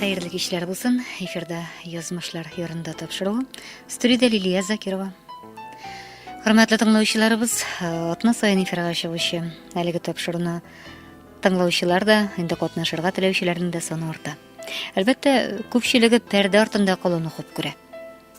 Хәерле кичләр булсын. Эфирда язмышлар ярында тапшыру. Студиядә Лилия Закирова. Хөрмәтле тыңлаучыларыбыз, атна сайын эфирга чыгучы әлеге тапшыруны тыңлаучылар да, инде катнашырга теләүчеләрнең дә саны арта. Әлбәттә, күпчелеге пәрдә артында калуны хуп күрә.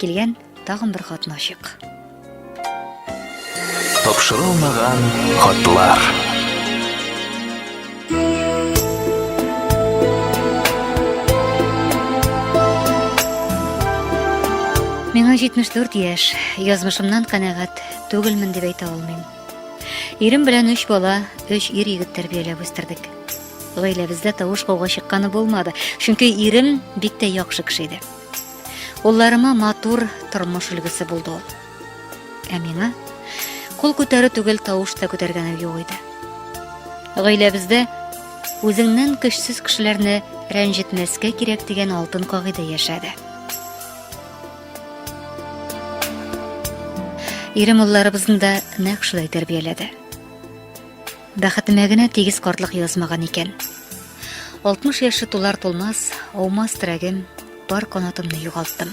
Килгән тагын бер катнашык. Тапшырылмаган хатлар. Миңа 74 яшь, язмышымнан канәгать түгелмен дип әйтә алмыйм. Ирем белән өч бала, өч ир егет тәрбияләп үстердек. Гаиләбездә тавыш кауга чыкканы булмады, чөнки ирем бик тә яхшы кеше иде. Улларыма матур тормыш өлгесе булды ул. Ә миңа кул күтәрү түгел тавыш та күтәргәнем юк иде. Гаиләбездә үзеңнән көчсез кешеләрне рәнҗетмәскә кирәк дигән алтын кагыйдә яшәде. Ирем улларыбызны да нәкъ шулай тәрбияләде. Бәхетемә генә тигез картлык язмаган икән. 60 яше тулар тулмас, аумас терәгем, бар канатымны югалттым.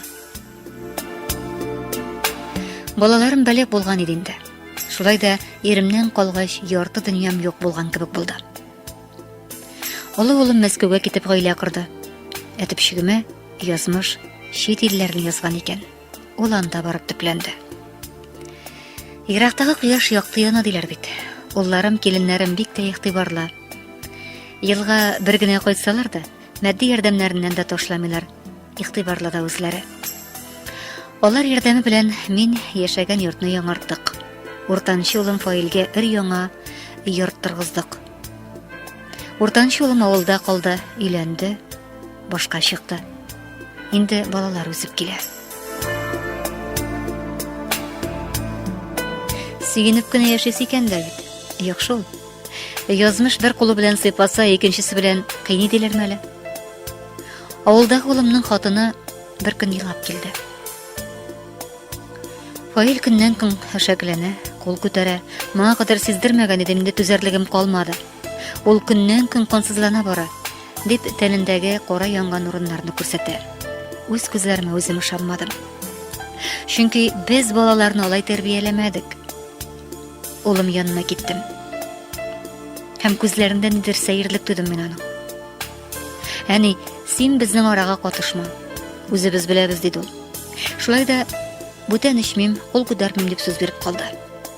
Балаларым бәләк булган иде инде. Шулай да иремнән калгач, ярты дөньям юк булган кебек булды. Олы улым Мәскәүгә китеп гаилә корды. Әтипчегемә язмыш чит илләрне язган икән. Ул анда барып төпләнде. Ерактагы кояш якты яна диләр бит. Улларым, киленнәрем бик тә игътибарлы. Елга бер генә кайтсалар да, матди ярдәмнәреннән дә ташламыйлар. Игътибарлы да үзләре. Алар ярдәме белән мин яшәгән йортны яңарттык. Уртанчы улым Фаилгә өр яңа йорт торгыздык. Уртанчы улым авылда калды, өйләнде. башка чыкты. Инде балалар үсеп килә. Сөенеп кенә яшис икән дә бит. Юк шул. Язмыш бер кулы белән сыйпаса, икенчесе белән кыйни диләр мәле. Авылда улымның хатыны бер көн елап килде. Фаил көннән көн хәшәкләнә, кул күтәрә. Моңа кадәр сиздермәгән идем, инде түзәрлегем калмады. Ул көннән-көн кансызлана бара, дип тәнендәге кара янган урыннарны күрсәтә. Үз күзләремә үзем ышанмадым. Чөнки без балаларны алай тәрбияләмәдек. Улым янына киттем. Һәм күзләрендә нидер сәерлек тудым мин аның. Әни, син безнең арага катышма. Үзебез беләбез, диде ул. Шулай да бүтән эчмим, кул күтәрмим дип сүз биреп калды.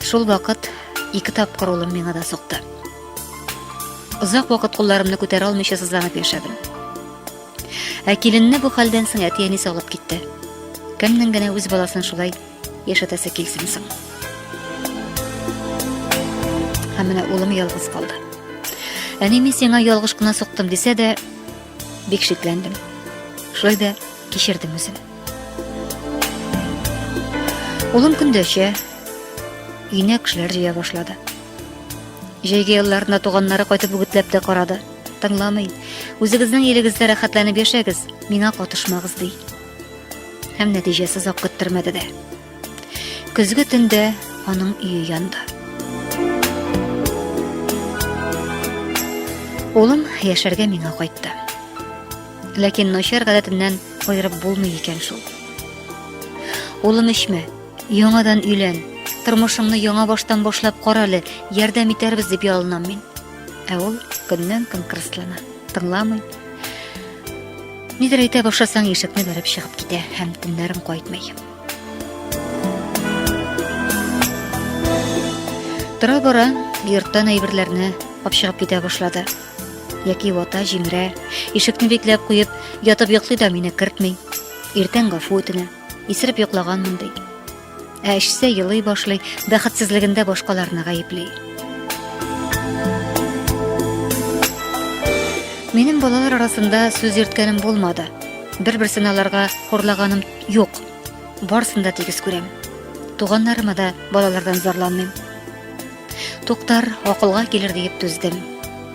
Шул вакыт ике тапкыр улым миңа да сукты. Озак вакыт кулларымны күтәрә алмыйча сызланып яшәдем. Ә киленне бу хәлдән соң әти-әни салып китте. Кемнең генә үз баласын шулай яшәтәсе килсен соң. Һәм менә улым ялгыз калды. Әни мин сиңа ялгыш кына суктым дисә дә, бик шикләндем. Шулай да кичердем үзен. Улым көндәшә, өенә кешеләр җыя башлады. Җәйге елларында туганнары кайтып үгетләп тә карады. Тыңламый. Үзегезнең илегездә рәхәтләнеп яшәгез, миңа катышмагыз ди. Һәм нәтиҗәсе озак көттермәде дә. Көзге төндә аның өе янды. Улым яшәргә миңа кайтты. Ләкин начар гадәтеннән аерып булмый икән шул. Улым эчмә, яңадан өйлән, тормышыңны яңа баштан башлап кара әле, ярдәм итәрбез дип ялынам мин. Ә ул көннән-көн кырыслана, тыңламый. Нидер әйтә башласаң, ишекне бәреп чыгып китә һәм төннәрен кайтмый. Тора-бара йорттан әйберләрне капшыгып китә башлады. Яки вата җиңрә, ишекне бикләп куеп, ятып йоклый да мине кертми. Иртән гафу үтенә, исереп йоклаган мондый. Ә эчсә елый башлый, бәхетсезлегендә башкаларны гаепли. Минем балалар арасында сүз йөрткәнем булмады. Бер-берсен аларга хурлаганым юк. Барсын да тигез күрәм. Туганнарыма да балалардан зарланмыйм. Туктар, акылга килер диеп түздем.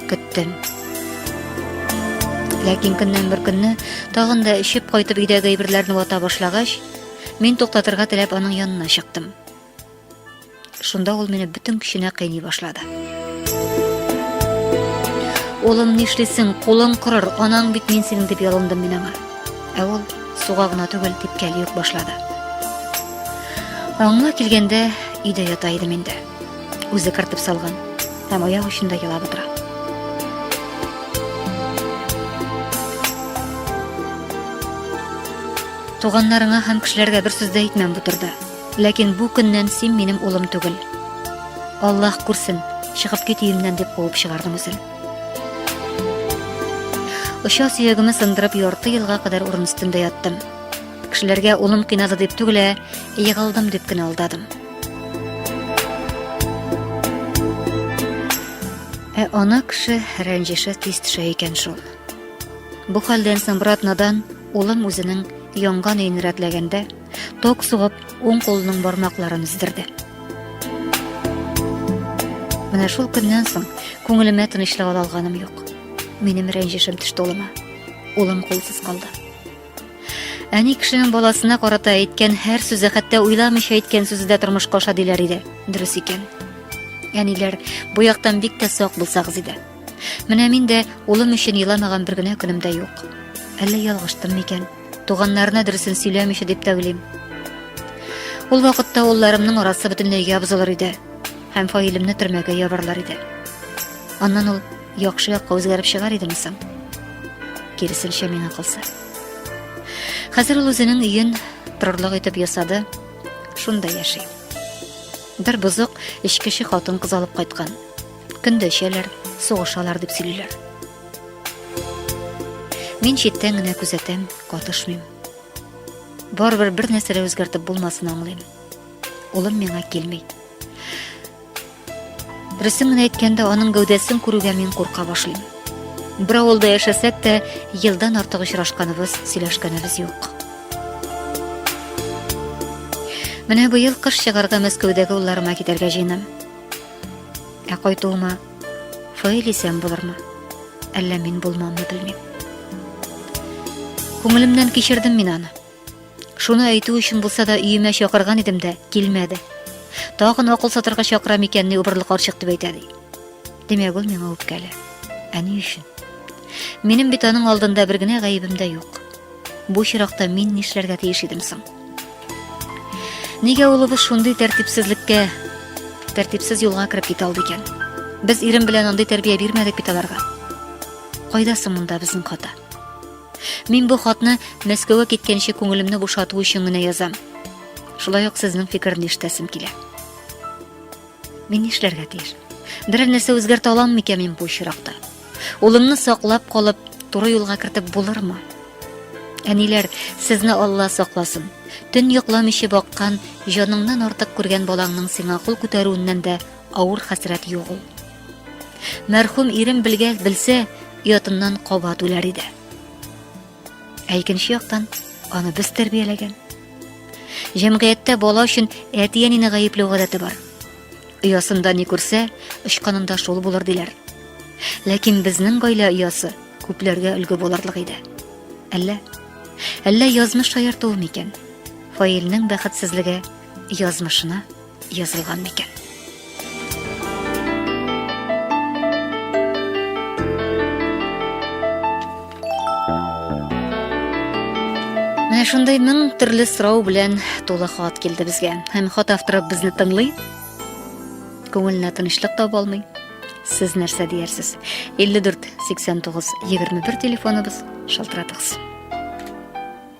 Көттем. Ләкин көннән бер көнне тагын да эчеп кайтып өйдәге әйберләрне вата башлагач, мин туктатырга теләп аның янына чыктым. Шунда ул мине бөтен көченә кыйный башлады. Улым, нишлисең, кулың корыр, анаң бит мин синең дип ялындым мин аңа. Ә ул суга гына түгел, типкәли үк башлады. Аңына килгәндә өйдә ята идем инде. Үзе кыртып салган һәм аяк очында елап утыра. Туганнарыңа һәм кешеләргә бер сүз дә әйтмәм бу турыда. Ләкин бу көннән син минем улым түгел. Аллаһ күрсен, чыгып кит өемнән дип куып чыгардым үзен. Оча сөягемне сындырып ярты елга кадәр урын өстендә яттым. Кешеләргә улым кыйнады дип түгел, ә егылдым дип кенә алдадым. Ә ана кеше рәнҗеше тиз төшә икән шул. Бу хәлдән соң брат надан улым үзенең янган өен рәтләгәндә, Ток сугып, уң кулының бармакларын үздерде. Менә шул көннән соң күңелемә тынычлык ала алганым юк. Минем рәнҗешем төште улыма. Улым кулсыз калды. Әни кешенең баласына карата әйткән һәр сүзе хәтта уйламыйча әйткән сүзе дә тормышка аша диләр иде. Дөрес икән. Әниләр, бу яктан бик тә сак булсагыз иде. Менә мин дә улым өчен еламаган бер генә көнем дә юк. Әллә ялгыштым микән? Туганнарына дөресен сөйләмичә дип тә уйлыйм. Ул вакытта улларымның арасы бөтенләй ябзылыр иде һәм фаилемне төрмәгә ябарлар иде. Аннан ул яхшы якка үзгәреп чыгар идеме соң? Киресенчә миңа калса. Хәзер ул үзенең өен торырлык итеп ясады, шунда яши. Бер бозык эчкече хатын кыз алып кайткан. Көндә эчәләр, сугышалар дип сөйлиләр. Мин читтән генә күзәтәм, катышмыйм. Барыбер бер нәрсә дә үзгәртеп булмасын аңлыйм. Улым миңа килми. Дөресен генә әйткәндә, аның гәүдәсен күрүгә мин курка башлыйм. Бер авылда яшәсәк тә, елдан артык очрашканыбыз, сөйләшкәнебез юк. Менә быел кыш чыгарга Мәскәүдәге улларыма китәргә җыенам. Ә кайтуыма Фаил исән булырмы? Әллә мин булмамны белмим. Күңелемнән кичердем мин аны. Шуны әйтү өчен булса да өемә чакырган идем дә, килмәде. Тагын акыл сатырга чакыра микән ни убырлы карчык дип әйтә ди. Димәк, ул миңа үпкәле. Ә ни өчен? Минем бит аның алдында бер генә гаебем дә юк. Бу чиракта мин нишләргә тиеш идем соң? Нигә улыбыз шундый тәртипсезлеккә, тәртипсез юлга кереп китә алды икән? Без ирем белән андый тәрбия бирмәдек бит аларга. Кайда соң монда безнең хата? Мин бу хатны Мәскәүгә киткәнче күңелемне бушату өчен генә язам. Шулай ук сезнең фикерне ишетәсем килә. Мин нишләргә тиеш? Берәр нәрсә үзгәртә алам микән мин бу очракта? Улымны саклап калып, туры юлга кертеп булырмы? Әниләр, сезне Алла сакласын. Төн йокламыйча баккан, җаныңнан артык күргән балаңның сиңа кул күтәрүеннән дә авыр хәсрәт юк ул. Мәрхүм ирем белгән, белсә, оятыннан кабат үләр иде. Ә икенче яктан, аны без тәрбияләгән. Җәмгыятьтә бала өчен әти-әнине гаепләү гадәте бар. Оясында ни күрсә, очканында шул булыр диләр. Ләкин безнең гаилә оясы күпләргә өлге булырлык иде. Әллә әллә язмыш шаяртуы микән? Фаилнең бәхетсезлеге язмышына язылган микән? Менә шундый мең төрле сорау белән тулы хат килде безгә. Һәм хат авторы безне тыңлый. Күңеленә тынычлык таба алмый. Сез нәрсә диярсез? 54 89 21 телефоныбыз шалтыратыгыз.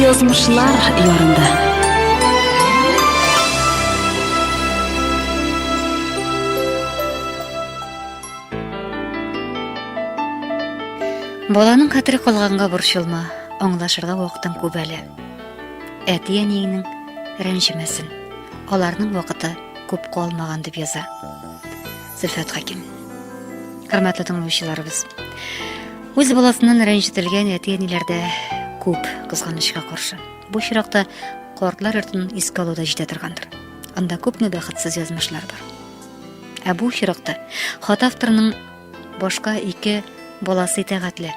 Язмышлар ярында. Баланың хәтере калганга борчылма, аңлашырга вакытың күп әле. Әти-әниеңнең рәнҗемәсен. Аларның вакыты күп калмаган дип яза. Зөлфәт Хәким. Хөрмәтле тыңлаучыларыбыз. Үз баласыннан рәнҗетелгән әти-әниләрдә күп кызганычка каршы. Бу чиракта картлар йортын искә алу да җитә торгандыр. Анда күпме бәхетсез язмышлар бар. Ә бу чиракта хат авторының башка ике баласы итәгатьле.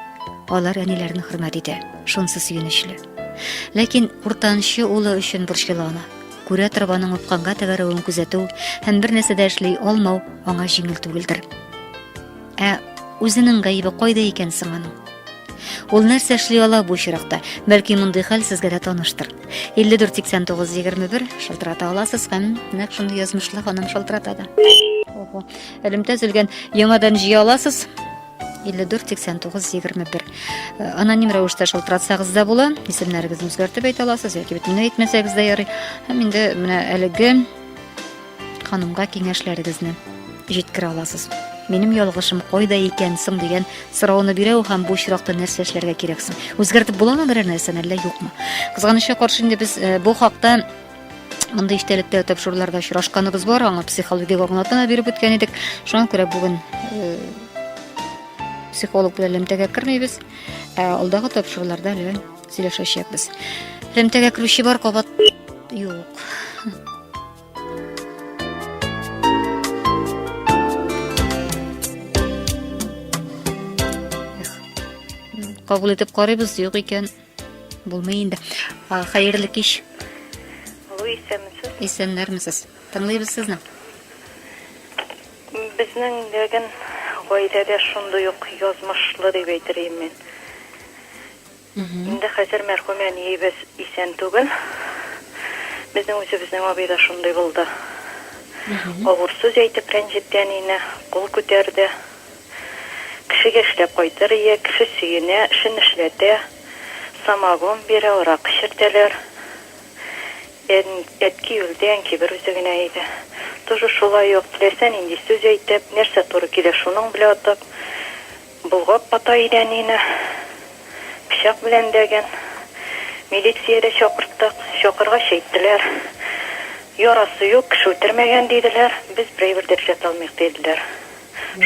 Алар әниләрен хөрмәт итә, шунсы сөенечле. Ләкин уртанчы улы өчен борчыла ана. Кураторов аның упканга тәгәрәвен күзәтү һәм бер нәрсә дә эшли алмау аңа җиңел түгелдер. Ә үзенең гаебе кайда икән соң аның? Ул нәрсә эшли ала бу очракта? Бәлки мондый хәл сезгә дә таныштыр. 548921 шалтырата аласыз һәм нәкъ шундый язмышлы ханым шалтырата да. Ого. Элемтә өзелгән. Яңадан җыя аласыз. 54 89 21 аноним рәвештә шалтыратсагыз да була исемнәрегезне үзгәртеп әйтә аласыз яки бөтенләй әйтмәсәгез дә ярый һәм инде менә әлеге ханымга киңәшләрегезне җиткерә аласыз минем ялгышым кайда икән соң дигән сорауны бирә ул һәм бу очракта нәрсә эшләргә кирәк соң үзгәртеп буламы берәр нәрсәне әллә юкмы кызганычка каршы инде без э, бу хакта Мондый истәлектә тапшыруларда очрашканыбыз бар, аңа психологик аңлатма биреп үткән идек. Шуңа күрә бүген э, психолог белән элемтәгә кермибез. Ә алдагы тапшыруларда әле сөйләшәчәкбез. Элемтәгә керүче бар кабат юк. Кабул итеп карыйбыз, юк икән. Булмый инде. Хәерле кич. Алло, исәнмесез. Исәннәрмесез. Тыңлыйбыз сезне. Безнең ләгән гаиләдә шундый ук язмышлы дип әйтер идем мин. Инде хәзер мәрхүм әниебез исән түгел. Безнең үзебезнең абый да шундый булды. Авыр сүз әйтеп рәнҗетте әнине, кул күтәрде. Кешегә эшләп кайтыр ия, кеше сөенә, эшен эшләтә, самогон бирә, аракы эчертәләр. Ән, әтки үлде, әнки бер үзе генә иде. Тоже шулай ук, теләсә нинди сүз әйтеп, нәрсә туры килә, шуның белә атып, болгап ата иде әнине. Пычак белән дәгән. Милиция дә чакырттык. Чакыргач әйттеләр, Ярасы юк, кеше үтермәгән, диделәр. Без берәйбер дә эшләтә алмыйк, диделәр.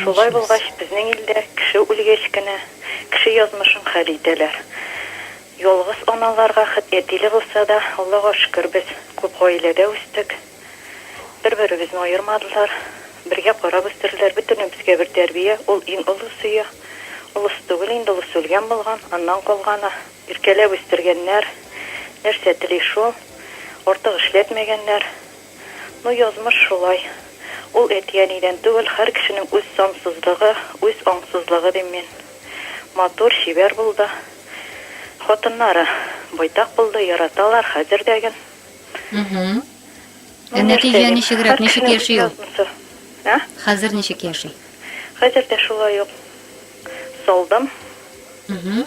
Шулай булгач, безнең илдә кеше үлгәч кенә, кеше язмышын хәл итәләр. Ялгыз аналарга хет әтиле булса да, Аллага шөкер, без күп гаиләдә үстек. Бер-беребезне аермадылар, бергә карап үстерделәр. Бөтенебезгә бер тәрбия, ул иң олы сөя. Олысы түгел инде, олысы үлгән булган, аннан калганы. Иркәләп үстергәннәр, нәрсә тели шул. Артык эшләтмәгәннәр. Ну, язмыш шулай. Ул әти-әнидән түгел, һәр кешенең үз сансызлыгы, үз аңсызлыгы, дим мин. Матур, чибәр булды. Хатыннары байтак булды, яраталар, хәзер дә ген. Мһм. Ну, Ә нәрсә нәтиҗә дим, ничегрәк, һәр ничек кешенең үз яши ул? язмышы. Ә? Хәзер ничек яши? Хәзер дә шулай ук. Салдым. Мхм.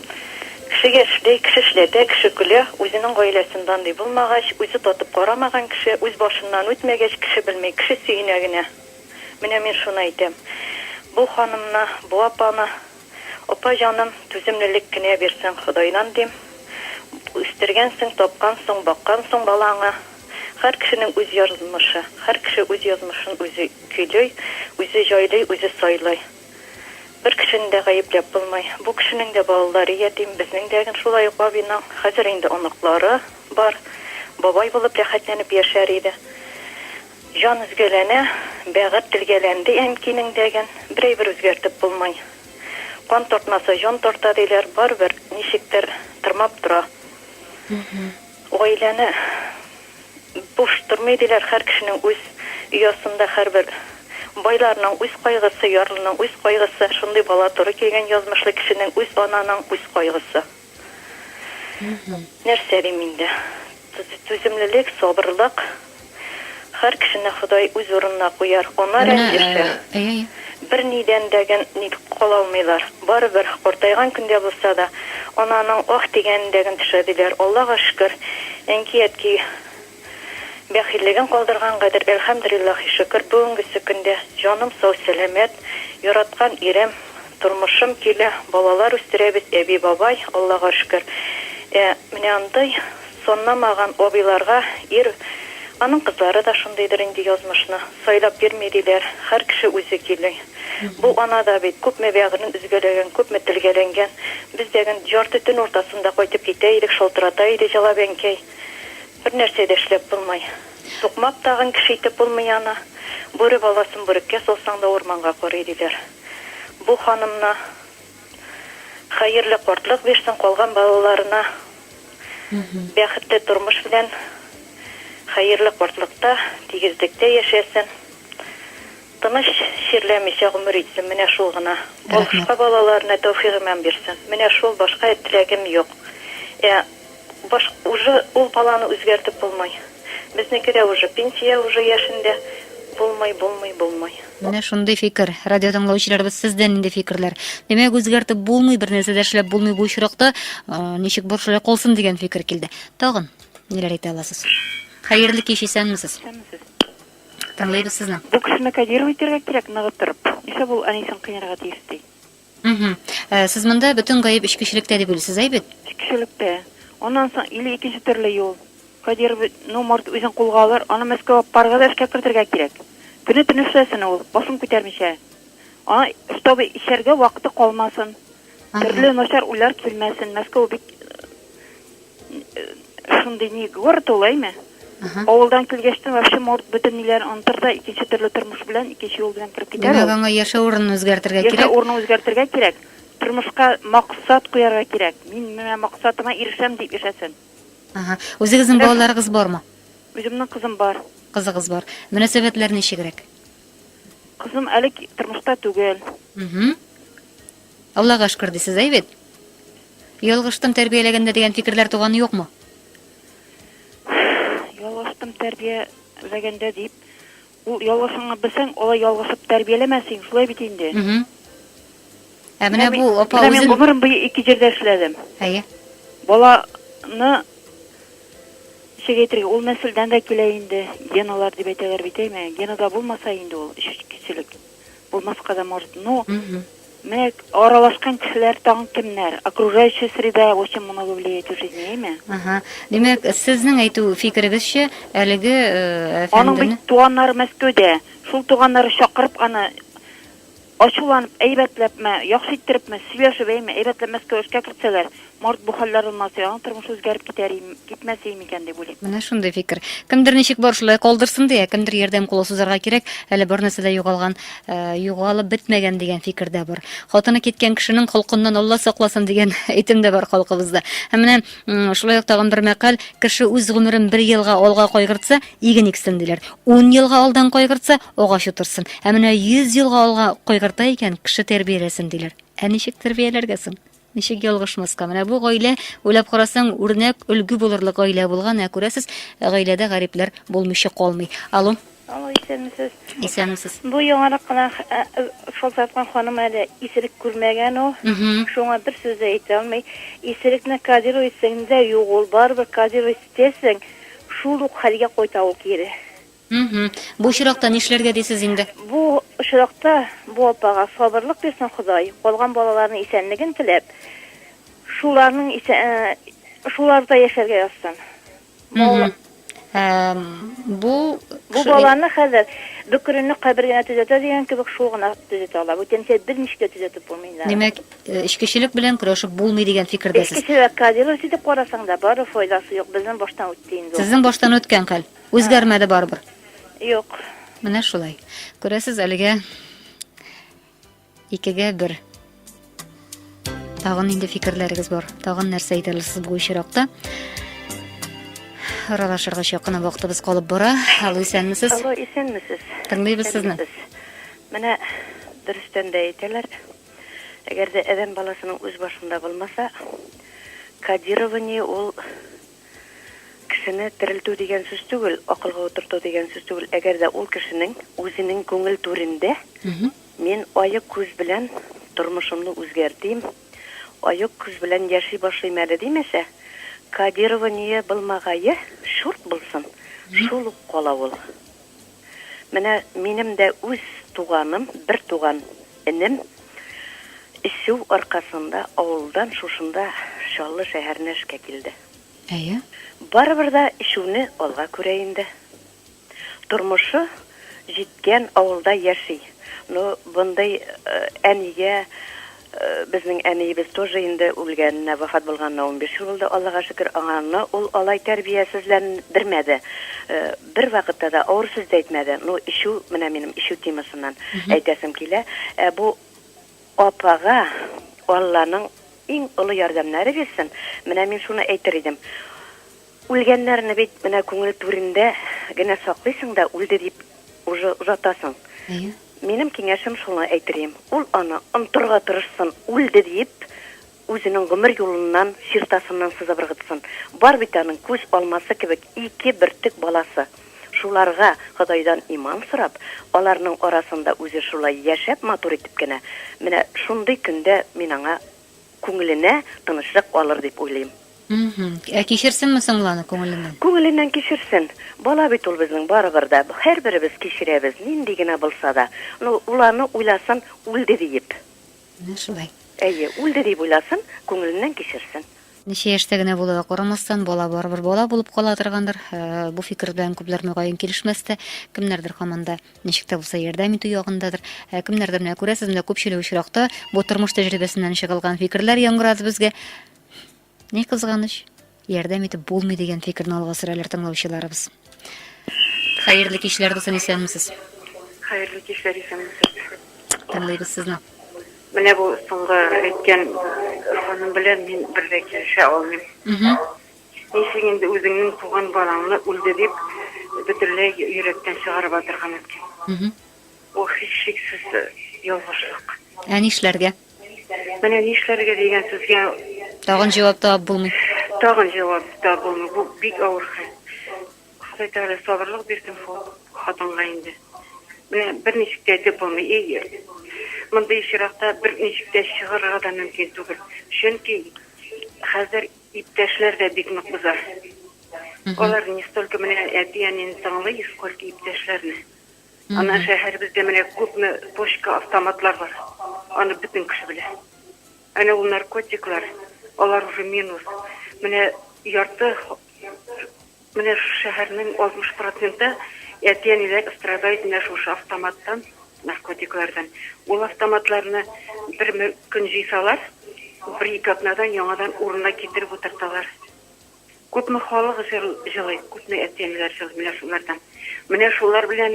Кешегә эшли, кеше эшләтә, кеше көлә. Үзенең гаиләсендә андый булмагач, үзе татып карамаган кеше, үз башыннан үтмәгәч, кеше белми, кеше сөенә генә. Менә мин шуны әйтәм. Бу ханымны, бу апаны, Апа җаным, түземлелек кенә бирсен Ходайдан, дим. Үстергәнсең, тапкансың, баккансың балаңы. Һәр кешенең үз язмышы. Һәр кеше үз язмышын үзе көйли, үзе җайлый, үзе сайлый. Бер кешене дә гаепләп булмый. Бу кешенең дә балалары ятим, безнең дә әгн шулай ук бабиның. Хәзер инде оныклары бар. Бабай булып рәхәтләнеп яшәр иде. Җан өзгәләнә, бәгырь телгәләнде әнкинең дә әгн. Бер әйбер үзгәртеп булмый. Кан тартмаса җан тарта диләр, барыбер ничектер тырмап тора. Гаиләне буш тормый диләр, хәр кешенең үз оясында хәрбер байларның үз кайгысы, ярлының үз кайгысы, шундый бала туры килгән язмышлы кешенең үз ананың үз кайгысы. Нәрсә дим инде. Түземлелек, сабырлык, Хәр кешене Ходай үз урынына куяр. Анар әле яшә. Бер нидән дә гэн ник кала алмыйлар. Барыбер, картайган көндә булса да, ананың ах дигәнен дә гэн төшә диләр. Аллага шөкер, әнки-әтки бәхиллеген калдырган гадер, әлхәмдериллахи шөкер, бүгенгесе көндә җаным сау-сәламәт, яраткан ирем, Тормышым килә, балалар үстерәбез, әби-бабай, Аллага шөкер. Ә менә андый санламаган абыйларга ир, аның кызлары да шундыйдыр инде язмышны, сайлап бирми диләр, хәр кеше үзе кили. Бу ана да бит, күпме бәгырен өзгәләгән, күпме телгәләнгән. Без дә гел ярты төн уртасында кайтып китә идек, шалтырата иде җылап әнкәй. Бер нәрсә дә эшләп булмый. Сукмак тагын кеше итеп булмый аны. Бүре баласын бүреккә салсаң да урманга карый, диләр. Бу ханымна хәерле картлык бирсен, калган балаларына бәхетле тормыш белән хәерле картлыкта, тигезлектә яшәсен. Тыныч, чирләмичә гомер итсен, менә шул гына. Башка балаларына тәүфигыйман бирсен. Менә шул, башка теләгем юк. Ә. Баш уже ул баланы үзгәртеп булмый. Безнеке дә уже пенсия уже яшендә булмый, булмый, булмый. Менә шундый фикер. Радиотыңлаучыларыбыз, сездә нинди фикерләр? Димәк, үзгәртеп булмый, бернәрсә дә эшләп булмый бу очракта, ничек бар шулай калсын дигән фикер килде. Тагын ниләр әйтә аласыз? Хәерле кич, исәнмесез. Исәнмесез. Тыңлыйбыз сезне. Бу кешене кодировать итәргә кирәк ныгытырып. Нишләп ул әнисен кыйнарга тиеш ди? Мхм. Ә, сез монда бөтен гаеп эчкечелектә дип уйлыйсыз, әй бит? Эчкечелектә. Аннан соң или икенче төрле юл. Кадиров, ну, может, үзен кулга алыр, аны Мәскәүгә алып барырга да эшкә кертергә кирәк. Көне-төне эшләсен ул, башын күтәрмичә. Аңа, чтобы эчәргә вакыты калмасын, Ага. төрле начар уйлар килмәсен. Мәскәү бик Шундый ни город ул, әйме? Авылдан килгәч тә вообще морд бөтен ниләрен онтыр да икенче төрле тормыш белән, икенче юл белән кереп китәр. Димәк, аңа яшәү урынын үзгәртергә кирәк. Яшәү урынын үзгәртергә кирәк. Тормышка максат куярга кирәк. Мин менә максатыма ирешәм дип яшәсен. Ага. Үзегезнең балаларыгыз бармы? Үземнең кызым бар. Кызыгыз бар. Мөнәсәбәтләр ничегрәк? Кызым әле тормышта түгел. Угу. Аллага шкөр ди сез әй бит. Ялгыштым тәрбияләгәндә дигән фикерләр туганы юкмы? Ялгыштым тәрбия ләгәндә дип. Ул ялгышыңны белсәң, алай ялгышып тәрбияләмә син, шулай бит инде. Ә менә бу апа үзен... Мин гомерем буе ике җирдә эшләдем. Әйе. Баланы ничек әйтергә, ул нәселдән дә килә инде, геналар дип әйтәләр бит, әйме? Генада булмаса инде ул, эчкечелек. Булмаска да может. Ну, менә аралашкан кешеләр тагын кемнәр? Окружающая среда очень много влияет в жизни, әйме? Ага. Димәк, сезнең әйтү фикерегезчә, әлеге э, әфәндене... Аның бит туганнары Мәскәүдә. Шул туганнары чакырып аны ачуланып, әйбәтләпме, яхшы иттерепме, сөйләшеп, әйме, әйбәтләп Мәскәү эшкә кертсәләр, Март бу хәлләр онмаса, аның тормышы үзгәреп китәр ие, китмәс ие микән дип уйлыйм. Менә шундый фикер. Кемдер ничек бар шулай калдырсын ди, ә кемдер ярдәм кулы сузарга кирәк, әле бернәрсә дә югалган, югалып бетмәгән дигән фикер дә бар. Хатыны киткән кешенең холкыннан Алла сакласын дигән әйтем дә бар халкыбызда. Һәм менә шулай ук тагын бер мәкаль, Кеше үз гомерен бер елга алга кайгыртса, иген иксен, диләр. Ун елга алдан кайгыртса, агач утырсын. Ә менә йөз елга алга кайгырта икән, кеше тәрбияләсен, диләр. Ә ничек тәрбияләргә соң? Ничек ялгышмаска? Менә бу гаилә, уйлап карасаң, үрнәк, өлге булырлык гаилә булган, ә күрәсез, гаиләдә гарипләр булмыйча калмый. Алло. Алло, исәнмесез. Исәнмесез. Бу яңарак кына шалтыраткан ханым әле исерек күрмәгән ул. Шуңа бер сүз дә әйтә алмый. Исерекне кодировать итсәң дә юк ул, барыбер кодировать итәсең, шул ук хәлгә кайта ул кире. Мһм. Бу очракта нишләргә дисез инде? Бу очракта бу апага сабырлык бирсен Ходай, калган балаларының исәнлеген теләп, шуларның исә шуларда яшәргә язсын. Мһм. Эм, бу Бу баланы хәзер бөкренне кабер генә төзәтә дигән кебек шул гына төзәтә ала. Бүтәнчә берничек тә төзәтеп булмый инде аны. Димәк, эчкечелек белән көрәшеп булмый дигән фикердәсез. Эчкечелек, Кадиров җитеп карасаң да, бары файдасы юк, безнең баштан үтте инде ул. Сезнең баштан үткән хәл. Үзгәрмәде барыбер. Юк. Менә шулай. Күрәсез, әлегә икегә бер. Тагын инде фикерләрегез бар. Тагын нәрсә әйтә аласыз бу очракта? Аралашырга чакына вакытыбыз калып бара. Алло, исәнмесез? Алло, исәнмесез? Тыңлыйбыз сезне. Менә дөрестән дә әйтәләр. Әгәр дә адәм баласының үз башында булмаса, кодирование ул Кешене терелтү дигән сүз түгел, акылга утырту дигән сүз түгел. Әгәр дә ул кешенең үзенең күңел түрендә мин аек күз белән тормышымны үзгәртим, аек күз белән яши башлыйм әле димәсә, кодирование былмагае чурт булсын, шул ук кала ул. Менә минем дә үз туганым, бер туган энем эчү аркасында авылдан шушында Чаллы шәһәренә эшкә килде. Әйе. Барыбер дә эчүне алга күрә инде. Тормышы җиткән авылда яши. Ну, мондый әнигә Безнең әниебез тоже инде үлгәненә, вафат булганына унбиш ел булды, Аллага шөкер, аңарны ул алай тәрбиясезлән дермәде. Бер вакытта да авыр сүз дә әйтмәде. Ну, эчү, менә минем эчү темасыннан әйтәсем килә. Ә бу апага Алланың иң олы ярдәмнәре бирсен. Менә мин шуны әйтер идем. Үлгәннәрне бит менә күңел түрендә генә саклыйсың да үлде дип уже озатасың. Әйе. Минем киңәшем шуны әйтерием, ул аны онтырга тырышсын, үлде диеп үзенең гомер юлыннан, чиртасыннан сызып ыргытсын. Бар бит аның күз алмасы кебек ике бөртек баласы. Шуларга Ходайдан иман сорап, аларның арасында үзе шулай яшәп матур итеп кенә, менә шундый көндә мин аңа күңеленә тынычлык алыр дип уйлыйм. Мхм. Ә кичерсенме соң ул аны күңеленнән? Күңеленнән кичерсен. Бала бит ул безнең барыбер дә. Һәрберебез кичерәбез, нинди генә булса да. Ну, ул аны уйласын, үлде диеп. Менә шулай. Әйе, үлде диеп уйласын, күңеленнән кичерсен. Ничә яшьтә генә булуга карамастан, бала барыбер бала булып кала торгандыр. Бу фикер белән күпләр, мөгаен, килешмәс тә. Кемнәрдер һаман да. Ничек тә булса ярдәм итү ягындадыр. Ә кемнәрдер менә күрәсез, менә күпчелек очракта бу тормыш тәҗрибәсеннән чыгылган фикерләр яңгырады безгә. Ни кызганыч, ярдәм итеп булмый дигән фикерне алга сөрәләр тыңлаучыларыбыз. Хәерле кичләр, дусын исәнмесез. Хәерле кичләр, исәнмесез. Тыңлыйбыз сезне. Менә бу соңгы әйткән ханым белән мин бер дә килешә алмыйм. Нишлисең инде, үзеңнең туган балаңны үлде дип бөтенләй йөрәктән чыгарып атырга мөмкин. Ул һичшиксез ялгышлык. Ә нишләргә? Менә нишләргә дигән сүзгә. Тагын җавап табып булмый. Тагын җавап табып булмый. Бу бик авыр хәл. Ходай Тәгалә сабырлык бирсен шул хатынга инде. Менә берничек тә әйтеп булмый. И, мондый очракта берничек тә чыгарырга да мөмкин түгел. Чөнки хәзер. Иптәшләр дә бик нык боза. Алар не столько менә әти әнине тыңлый, сколько иптәшләрне. Аннан шәһәребездә менә күпме точка автоматлар бар. Аны бөтен кеше белә. Әнә ул наркотиклар, алар уже минус. Менә ярты Менә шушы шәһәрнең 60 проценты әти-әниләр страдает менә шушы автоматтан, наркотиклардан. Ул автоматларны бер көн җыйсалар, бер-ике атнадан яңадан урынына китереп утырталар. Күпме халык җылый, күпме әти-әниләр җылый менә шулардан. Менә шулар белән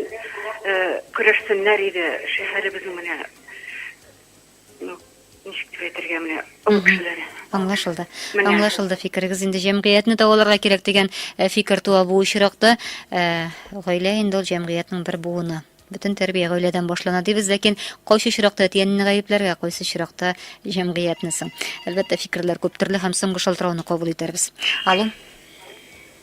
көрәшсеннәр иде шәһәребезнең менә. Ну, ничек дип әйтергә менә, олы кешеләр. Аңлашылды. Менә. Аңлашылды фикерегез. Инде җәмгыятьне дәваларга кирәк дигән э, фикер туа бу очракта. Э, Гаилә инде ул җәмгыятьнең бер буыны. Бөтен тәрбия гаиләдән башлана дибез, ләкин кайсы очракта әти-әнине гаепләргә, кайсы очракта җәмгыятьне соң. Әлбәттә, фикерләр күп төрле һәм соңгы шалтырауны кабул итәрбез. Алло,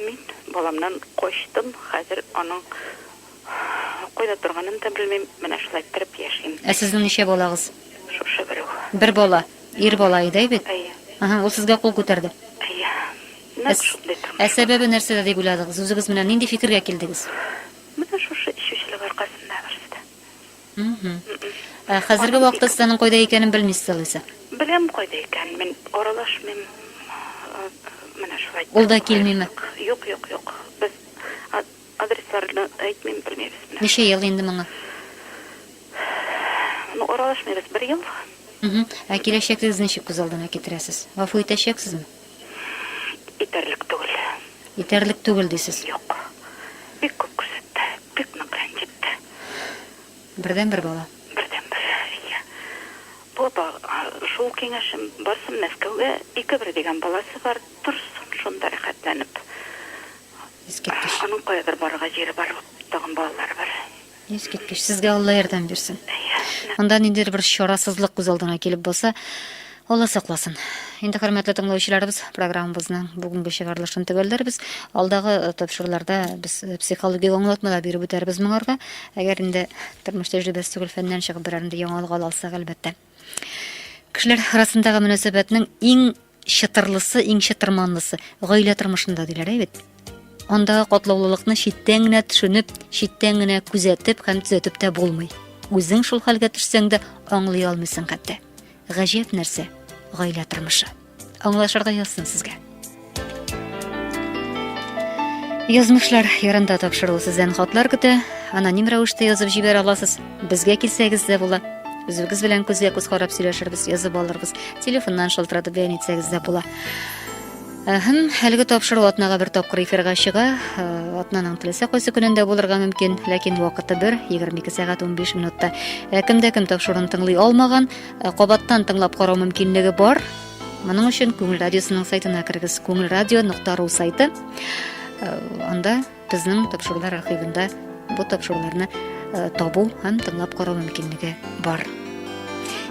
Мин баламнан качтым, хәзер аның кайда торганын да белмим, менә шулай иттереп яшим. Ә сезнең ничә балагыз? Шушы бер үк. Бер бала. Ир бала иде, әй бит? Әйе. Әһә, ул сезгә кул күтәрде. Әйе. Нәкъ шундый тормыш бар. Ә сәбәбе нәрсәдә дип уйладыгыз? Үзегез менә нинди фикергә килдегез? Менә шушы эчүчелек аркасында, барысы да. Ә хәзерге вакытта сез аның кайда икәнен белмисез алайса? Беләм кайда икәнен, мин аралашмыйм. Менә шулай. Ул да килмиме? Юк, юк, юк. Без адресларны әйтмим, белмибез. Ничә ел инде моңа? Ну, аралашмыйбыз бер ел. Ә киләчәкегез ничек күз алдына китерәсез? Гафу итәчәксезме? Сссстт, итәрлек түгел. Итәрлек түгел дисез. Юк. Бик күп күрсәтте. Бик нык рәнҗетте. Бердәнбер бала. Бердәнбер, ия. Бу апа, шул киңәшем, барсын Мәскәүгә, ике бер дигән баласы бар, торсын шунда рәхәтләнеп. Искиткеч. Аның каядыр барырга җире бар, тагын балалары бар. Искиткеч, сезгә Алла ярдәм бирсен. Монда ниндидер бер чарасызлык күз алдына килеп баса, Алла сакласын. Инде хөрмәтле тыңлаучыларыбыз, программабызның бүгенге чыгарылышын төгәлләрбез. Алдагы э, тапшыруларда без э, психологик аңлатмалар биреп үтәрбез моңарга. Әгәр инде тормыш тәҗрибәсе түгел фәннән чыгып берәр инде яңалык ала алсак, әлбәттә. Кешеләр арасындагы мөнәсәбәтнең иң чытырлысы, иң чытырманлысы гаилә тормышында диләр, әйбәт. Андагы катлаулылыкны читтән генә төшенеп, читтән генә күзәтеп һәм төзәтеп тә булмый. Үзең шул хәлгә төшсәң дә аңлый алмыйсың хәтта. Гаҗәп нәрсә, гаилә тормышы. Аңлашырга язсын сезгә. Язмышлар ярында тапшыру сездән хатлар көтә. Аноним рәвештә язып җибәр аласыз. Безгә килсәгез дә була. Үзегез белән күзгә күз карап сөйләшербез, язып алырбыз. Телефоннан шалтыратып бәян итсәгез дә була. Һәм әлеге тапшыру атнага бер тапкыр эфирга чыга. Э, атнаның теләсә кайсы көнендә булырга мөмкин, ләкин вакыты бер, 22 сәгать 15 минутта. Ә кемдә кем тапшыруын тыңлый алмаган, Э, кабаттан тыңлап карау мөмкинлеге бар моның өчен күңел радиосының сайтына кергез күңел радио нокта ру сайты э, анда безнең тапшырулар архивында бу тапшыруларны э, табу һәм тыңлап карау мөмкинлеге бар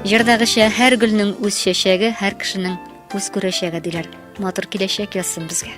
җырдагыча һәр гөлнең үз чәчәге һәр кешенең үз күрәчәге диләр матур киләчәк язсын безгә